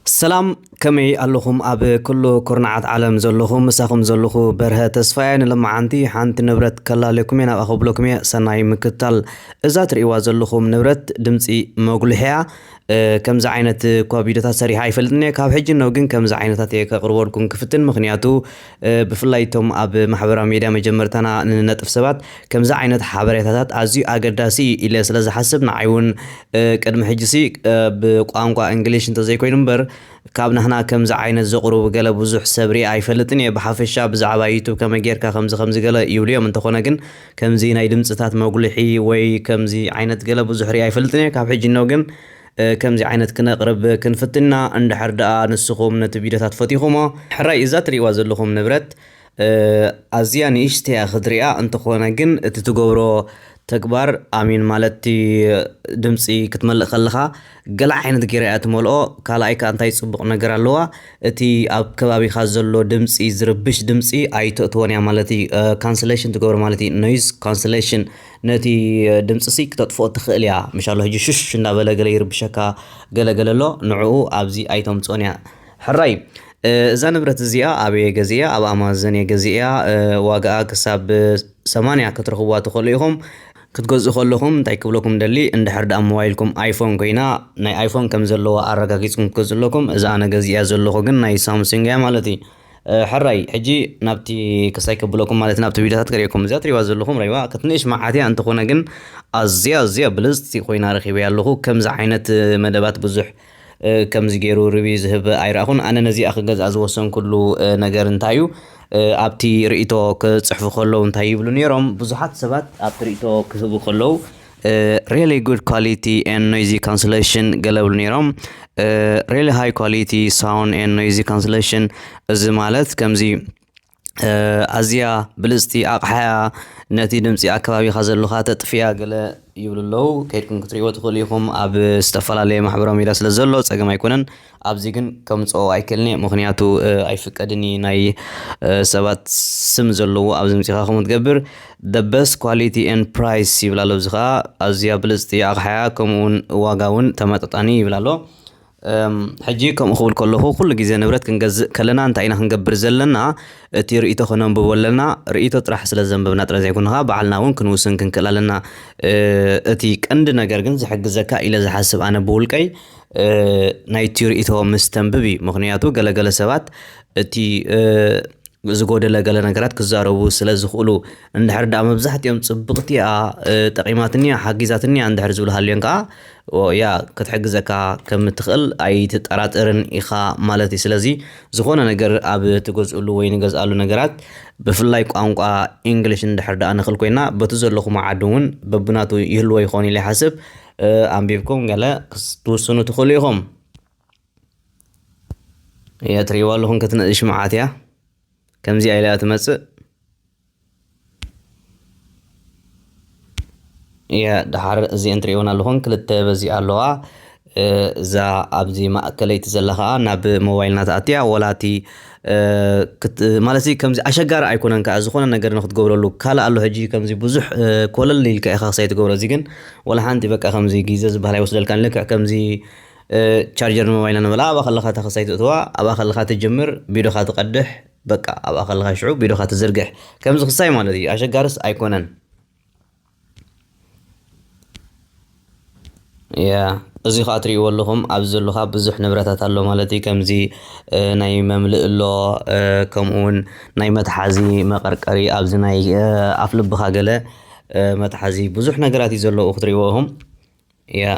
ሰላም ከመይ ኣለኹም ኣብ ኩሉ ኩርናዓት ዓለም ዘለኹም ምሳኹም ዘለኹ በርሀ ተስፋየ ንሎማዓንቲ ሓንቲ ንብረት ከላልየኩምየ ናብኣ ከብለኩምየ ሰናይ ምክትታል እዛ ትርእይዋ ዘለኹም ንብረት ድምፂ መጉልሒያ ከምዚ ዓይነት እኳ ቪድዮታት ሰሪሓ ኣይፈልጥንየ ካብ ሕጂ እነው ግን ከምዚ ዓይነታት እየ ከቕርበልኩም ክፍትን ምኽንያቱ ብፍላይ እቶም ኣብ ማሕበራዊ ሜድያ መጀመርታና ንነጥፍ ሰባት ከምዚ ዓይነት ሓበሬታታት ኣዝዩ ኣገዳሲ እዩ ኢለ ስለ ዝሓስብ ንዓይ እውን ቅድሚ ሕጂሲ ብቋንቋ እንግሊሽ እንተዘይኮይኑ እምበር ካብ ናህና ከምዚ ዓይነት ዘቕርቡ ገለ ብዙሕ ሰብ ሪኣ ኣይፈልጥን እየ ብሓፈሻ ብዛዕባ ዩቱብ ከመይ ጌርካ ከምዚ ከምዚ ገለ ይብሉ እዮም እንተኾነ ግን ከምዚ ናይ ድምፅታት መጉልሒ ወይ ከምዚ ዓይነት ገለ ብዙሕ ሪኣ ኣይፈልጥን እየ ካብ ሕጂ እነሆ ግን ከምዚ ዓይነት ክነቅርብ ክንፍትን ኢና እንድሕር ድኣ ንስኩም ነቲ ቪድዮታት ፈቲኩሞ። ሕራይ እዛ ትሪእዋ ዘለኩም ንብረት ኣዝያ ንእሽተይ እያ ክትርኣ እንተኮነ ግን እቲ ትገብሮ ተግባር ኣሜን ማለት እቲ ድምጺ ክትመልእ ከለካ ገለ ዓይነት ጌራ እያ ትመልኦ ካልኣይ ከኣ እንታይ ጽቡቅ ነገር ኣለዋ እቲ ኣብ ከባቢካ ዘሎ ድምጺ ዝርብሽ ድምጺ ኣይተእትዎን እያ ማለት እዩ ካንስሌሽን ትገብሮ ማለት እዩ ኖይዝ ካንስሌሽን ነቲ ድምጽሲ ክተጥፍኦ ትክእል ኢያ ምሽ ኣሎ ህጂ ሹሽ እንዳበለ ገለ ይርብሸካ ገለ ገለ ኣሎ ንዑኡ ኣብዚ ኣይተምጽኦን ኢያ ሕራይ እዛ ንብረት እዚኣ ኣበየ ገዚኣ ኣብ ኣማዘን እየ ገዚኣ ዋጋኣ ክሳብ ሰማንያ ክትረኽብዋ ትኽእሉ ኢኹም ክትገዝኡ ከለኹም እንታይ ክብለኩም ደሊ እንድሕር ደኣ ሞባይልኩም ኣይፎን ኮይና ናይ ኣይፎን ከም ዘለዋ ኣረጋጊጽኩም ክትገዝኡ ኣለኩም እዛ ኣነ ገዚኣ ዘለኹ ግን ናይ ሳምሱንግ እያ ማለት እዩ ሕራይ ሕጂ ናብቲ ክሳይ ከብለኩም ማለት ናብቲ ቪድዮታት ክርእየኩም እዚኣ ትሪእዋ ዘለኹም ረይዋ ክትንእሽ መዓት እያ እንተኾነ ግን ኣዝያ ኣዝያ ብልጽቲ ኮይና ረኺበያ ኣለኹ ከምዚ ዓይነት መደባት ብዙሕ ከምዚ ገይሩ ርቢ ዝህብ ኣይረኣኹን ኣነ ነዚኣ ክገዝኣ ዝወሰንኩሉ ነገር እንታይ እዩ ኣብቲ ርእቶ ክጽሕፉ ከለዉ እንታይ ይብሉ ነይሮም ብዙሓት ሰባት ኣብቲ ርእቶ ክህቡ ከለዉ ሪሊ ጉድ ኳሊቲ ኤን ኖይዚ ካንስሌሽን ገለ ብሉ ነይሮም ሪሊ ሃይ ኳሊቲ ሳውን ኤን ኖይዚ ካንስሌሽን እዚ ማለት ከምዚ ኣዝያ ብልፅቲ ኣቕሓያ ነቲ ድምፂ ኣከባቢኻ ዘለኻ ተጥፍያ ገለ ይብሉ ኣለዉ ከይድኩም ክትሪእዎ ትኽእሉ ኢኹም ኣብ ዝተፈላለየ ማሕበራዊ ሚድያ ስለ ዘሎ ፀገም ኣይኮነን ኣብዚ ግን ከምጽኦ ኣይክእልንየ ምክንያቱ ኣይፍቀድን ኢዩ ናይ ሰባት ስም ዘለዎ ኣብዚ ምጺካ ከምኡ ትገብር the best quality and price ይብል ኣሎ እዚ ከኣ ኣዝያ ብልጽቲ ኣቕሓ እያ ከምኡ ውን ዋጋ ውን ተመጣጣኒ ይብል ኣሎ ሕጂ ከምኡ ክብል ከለኹ ኩሉ ግዜ ንብረት ክንገዝእ ከለና እንታይ ኢና ክንገብር ዘለና እቲ ርእቶ ከነንብቦ ኣለና ርእቶ ጥራሕ ስለ ዘንብብና ጥረ ዘይኮንኻ ባዕልና እውን ክንውስን ክንክእል ኣለና እቲ ቀንዲ ነገር ግን ዝሕግዘካ ኢለ ዝሓስብ ኣነ ብውልቀይ ናይቲ ርእይቶ ምስ ተንብብ እዩ ምክንያቱ ገለገለ ሰባት እቲ ዝጎደለ ገለ ነገራት ክዛረቡ ስለ ዝኽእሉ እንድሕር ደኣ መብዛሕትኦም ጽብቕቲ እያ ጠቒማትኒ እያ ሓጊዛትኒ እያ እንድሕር ዝብሉ ሃልዮም ከዓ ያ ክትሕግዘካ ከም እትኽእል ኣይትጠራጠርን ኢኻ ማለት እዩ ስለዚ ዝኾነ ነገር ኣብ ትገዝእሉ ወይ ንገዝኣሉ ነገራት ብፍላይ ቋንቋ ኢንግሊሽ እንድሕር ደኣ ንኽእል ኮይና በቲ ዘለኹም ዓዲ እውን በብናቱ ይህልዎ ይኸውን ኢለ ይሓስብ ኣንቢብኩም ገለ ክትውስኑ ትኽእሉ ኢኹም እየ ትርእይዋ ኣለኹም ክትንእሽ መዓት እያ ከምዚኣ ኢላ ትመፅእ እየ ድሓር እዚአን ትርእይወን ኣለኹም ክልተ በዚ ኣለዋ እዛ ኣብዚ ማእከለይቲ ዘላ ከዓ ናብ ሞባይልና ተኣትያ ወላ እቲ ማለትሲ ከምዚ ኣሸጋሪ ኣይኮነን ከኣ ዝኾነ ነገር ንክትገብረሉ ካልእ ኣሎ ሕጂ ከምዚ ብዙሕ ኮለል ኢልካ ኢኻ ክሳይ ትገብሮ እዚ ግን ወላ ሓንቲ በቃ ከምዚ ግዜ ዝበሃል ኣይወስደልካን ልክዕ ከምዚ ቻርጀር ንሞባይልና ንበላ ኣብኣ ከለኻ እታ ክሳይ ትእትዋ ኣብኣ ከለኻ ትጅምር ቢዶኻ ትቀድሕ በቃ ኣብኣ ከለኻ ሽዑ ቢዶኻ ትዝርግሕ ከምዚ ክሳይ ማለት እዩ ኣሸጋርስ ኣይኮነን እዚ ኸኣ ትሪእዎ ኣለኹም ኣብዚ ዘሎ ኸኣ ብዙሕ ንብረታት ኣሎ ማለት እዩ። ከምዚ ናይ መምልእ ኣሎ ከምኡ ውን ናይ መትሓዚ መቐርቀሪ ኣብዚ ናይ ኣፍ ልብኻ ገለ መትሓዚ ብዙሕ ነገራት እዩ ዘሎ ክትሪእዎ ኢኹም። Ja.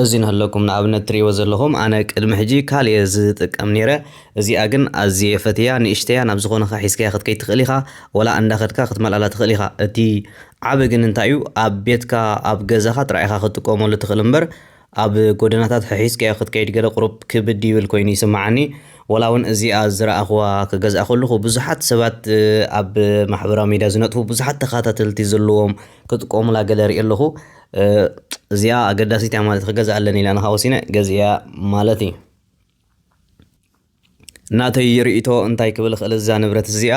እዚ ንህለኩም ንኣብነት ትሪእዎ ዘለኹም ኣነ ቅድሚ ሕጂ ካልእ እየ ዝጥቀም ነይረ እዚኣ ግን ኣዝየ ፈትያ ንእሽተያ ናብ ዝኾነ ኸ ሒዝካያ ክትከይድ ትኽእል ኢኻ ወላ እንዳኸድካ ክትመልኣላ ትኽእል ኢኻ እቲ ዓብ ግን እንታይ እዩ ኣብ ቤትካ ኣብ ገዛኻ ጥራይ ኢኻ ክትጥቀመሉ ትኽእል እምበር ኣብ ጎደናታት ሕሒስካዮ ክትከይድ ገለ ቁሩብ ክብድ ይብል ኮይኑ ይስምዓኒ፣ ወላ ውን እዚኣ ዝረኣኽዋ ክገዝኣ ከለኹ ብዙሓት ሰባት ኣብ ማሕበራዊ ሚድያ ዝነጥፉ ብዙሓት ተኻታተልቲ ዘለዎም ክጥቀሙላ ገለ ሪኤ ኣለኹ እዚኣ ኣገዳሲት እያ ማለት ክገዝኣ ኣለኒ ኢለ ኣነ ከኣ ወሲነ ገዚኤያ ማለት እየ። ናተይ ሪኢቶ እንታይ ክብል እኽእል እዛ ንብረት እዚኣ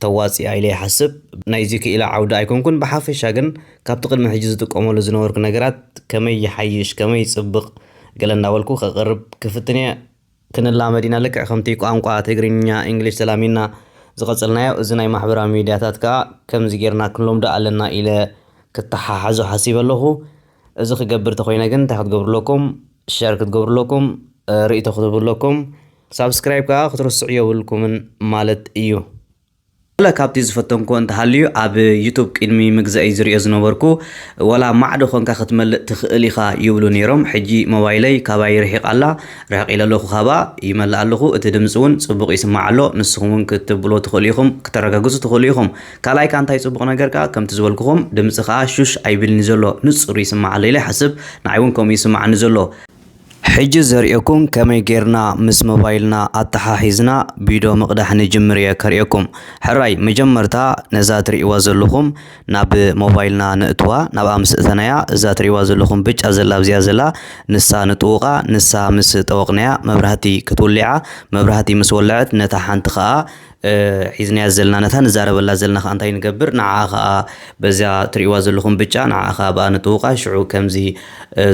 ተዋፂኣ ኢለ ይሓስብ ናይዚ ክኢላ ዓውዲ ኣይኮንኩን ብሓፈሻ ግን ካብቲ ቅድሚ ሕጂ ዝጥቀመሉ ዝነበርኩ ነገራት ከመይ ይሓይሽ ከመይ ይፅብቕ ገለ እንዳበልኩ ከቕርብ ክፍትን እየ ክንላመድ ኢና ልክዕ ከምቲ ቋንቋ ትግርኛ ኢንግሊሽ ተላሚድና ዝቐፀልናዮ እዚ ናይ ማሕበራዊ ሚድያታት ከዓ ከምዚ ጌርና ክንለምዶ ኣለና ኢለ ክተሓሓዞ ሓሲበ ኣለኹ። እዚ ክገብር ተኾይነ ግን እንታይ ክትገብሩ ኣለኩም ሸር ክትገብሩ ኣለኩም ርእይቶ ክትህቡ ኣለኩም ሳብስክራይብ ከዓ ክትርስዑ የብልኩምን ማለት እዩ ገለ ካብቲ ዝፈተንኩ እንተሃልዩ ኣብ ዩቱብ ቅድሚ ምግዛእይ ዝሪኦ ዝነበርኩ ወላ ማዕዶ ኮንካ ክትመልእ ትኽእል ኢኻ ይብሉ ነይሮም ሕጂ ሞባይለይ ካባይ ርሒቕ ኣላ ርሕቕ ኢለ ኣለኹ ካባ ይመልእ ኣለኹ እቲ ድምፂ እውን ፅቡቕ ይስማዕ ኣሎ ንስኹም እውን ክትብሎ ትኽእሉ ኢኹም ክተረጋግፁ ትኽእሉ ኢኹም ካልኣይ ከኣ እንታይ ጽቡቕ ነገር ከኣ ከምቲ ዝበልኩኹም ድምጺ ከኣ ሹሽ ኣይብልን'ዩ ዘሎ ንጹር ይስማዕ ኣሎ ኢለ ይሓስብ ንዓይ ውን ከምኡ ይስማዓኒ ዘሎ። ሕጂ ዘርእየኩም ከመይ ጌርና ምስ ሞባይልና ኣተሓሒዝና ቢዶ ምቕዳሕ ንጅምር እየ ከርእየኩም። ሕራይ መጀመርታ ነዛ ትርእይዋ ዘለኹም ናብ ሞባይልና ነእትዋ ናብኣ ምስ እተናያ እዛ ትርእይዋ ዘለኹም ብጫ ዘላ ኣብዚኣ ዘላ ንሳ ንጥውቓ ንሳ ምስ ጠወቕናያ መብራህቲ ክትውሊዓ መብራህቲ ምስ ወለዐት ነታ ሓንቲ ከኣ ሒዝናያ ዘልና ነታ ንዛረበላ ዘልና ከኣ እንታይ ንገብር ንዓኣ ከኣ በዚኣ ትርእይዋ ዘለኹም ብጫ ንዓኣ ከኣ ብኣ ንጥውቃ ሽዑ ከምዚ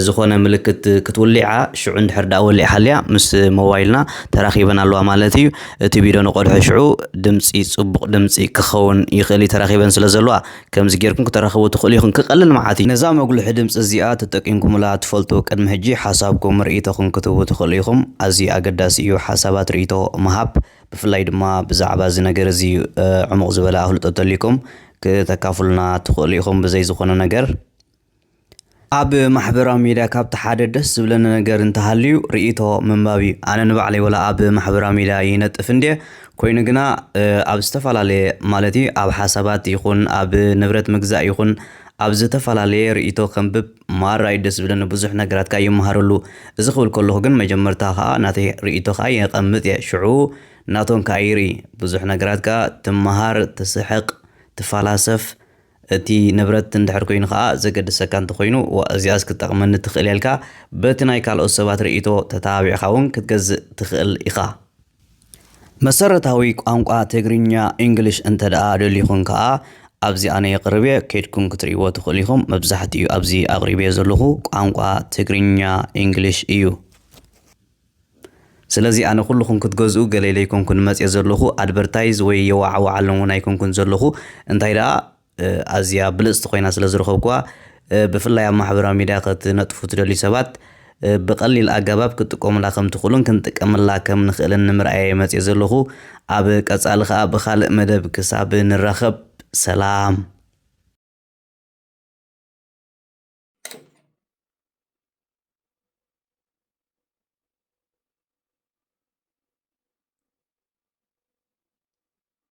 ዝኾነ ምልክት ክትውሊዓ ሽዑ እንድሕር ደኣ ወሊዕ ሃልያ ምስ ሞባይልና ተራኺበን ኣለዋ ማለት እዩ እቲ ቢዶ ንቆልሑ ሽዑ ድምጺ ጽቡቕ ድምጺ ክኸውን ይኽእል እዩ ተራኺበን ስለ ዘለዋ ከምዚ ጌርኩም ክተራኽቡ ትኽእሉ ኢኹም ክቀልል መዓት እዩ ነዛ መጉልሒ ድምጺ እዚኣ ተጠቂምኩምላ ትፈልጡ ቅድሚ ሕጂ ሓሳብኩም ርኢቶኹም ክትህቡ ትኽእሉ ኢኹም ኣዝዩ ኣገዳሲ እዩ ሓሳባት ርኢቶ ምሃብ። ብፍላይ ድማ ብዛዕባ እዚ ነገር እዚ ዕሙቕ ዝበለ ኣፍልጦ እንተልዩኩም ክተካፍሉና ትኽእሉ ኢኹም ብዘይ ዝኾነ ነገር። ኣብ ማሕበራዊ ሚድያ ካብቲ ሓደ ደስ ዝብለኒ ነገር እንተሃልዩ ርእይቶ ምንባብ እዩ። ኣነ ንባዕለይ ወላ ኣብ ማሕበራዊ ሚድያ ይነጥፍ እንድየ ኮይኑ ግና ኣብ ዝተፈላለየ ማለት እዩ ኣብ ሓሳባት ይኹን ኣብ ንብረት ምግዛእ ይኹን ኣብ ዝተፈላለየ ርእይቶ ከንብብ ማራ ዩ ደስ ዝብለኒ ብዙሕ ነገራት ከኣ ይመሃረሉ እዚ ክብል ከለኩ ግን መጀመርታ ከኣ ናተይ ሪኢቶ ከኣ የቀምጥ እየ ሽዑ ናቶም ከኣ ይርኢ ብዙሕ ነገራት ከኣ ትመሃር ትስሕቅ ትፋላሰፍ እቲ ንብረት እንድሕር ኮይኑ ከኣ ዘገድሰካ እንተኮይኑ ዋእ እዚኣስ ክትጠቅመኒ ትክእል እያ ኢልካ በቲ ናይ ካልኦት ሰባት ሪኢቶ ተተባቢዕካ ውን ክትገዝእ ትክእል ኢካ። መሰረታዊ ቋንቋ ትግርኛ English እንተድኣ ደሊኹም ከኣ ኣብዚ ኣነ የቅርብየ ከይድኩም ክትርእይዎ ትኽእሉ ኢኹም መብዛሕትኡ ኣብዚ ኣቅሪበዮ ዘለኹ ቋንቋ ትግርኛ English እዩ ስለዚ ኣነ ኩሉኹም ክትገዝኡ ገለ ኢለ ኣይኮንኩን መጽየ ዘለኹ ኣድበርታይዝ ወይ የዋዓዋዓሎም ውን ኣይኮንኩን ዘለኹ እንታይ ድኣ ኣዝያ ብልጽቲ ኮይና ስለ ዝረኸብኩዋ ብፍላይ ኣብ ማሕበራዊ ሚድያ ከትነጥፉ ትደልዩ ሰባት ብቐሊል ኣገባብ ክትጥቀሙላ ከም ትኽእሉን ክንጥቀመላ ከም ንኽእልን ንምርኣየ መጽየ ዘለኹ ኣብ ቀጻሊ ከኣ ብኻልእ መደብ ክሳብ ንራኸብ ሰላም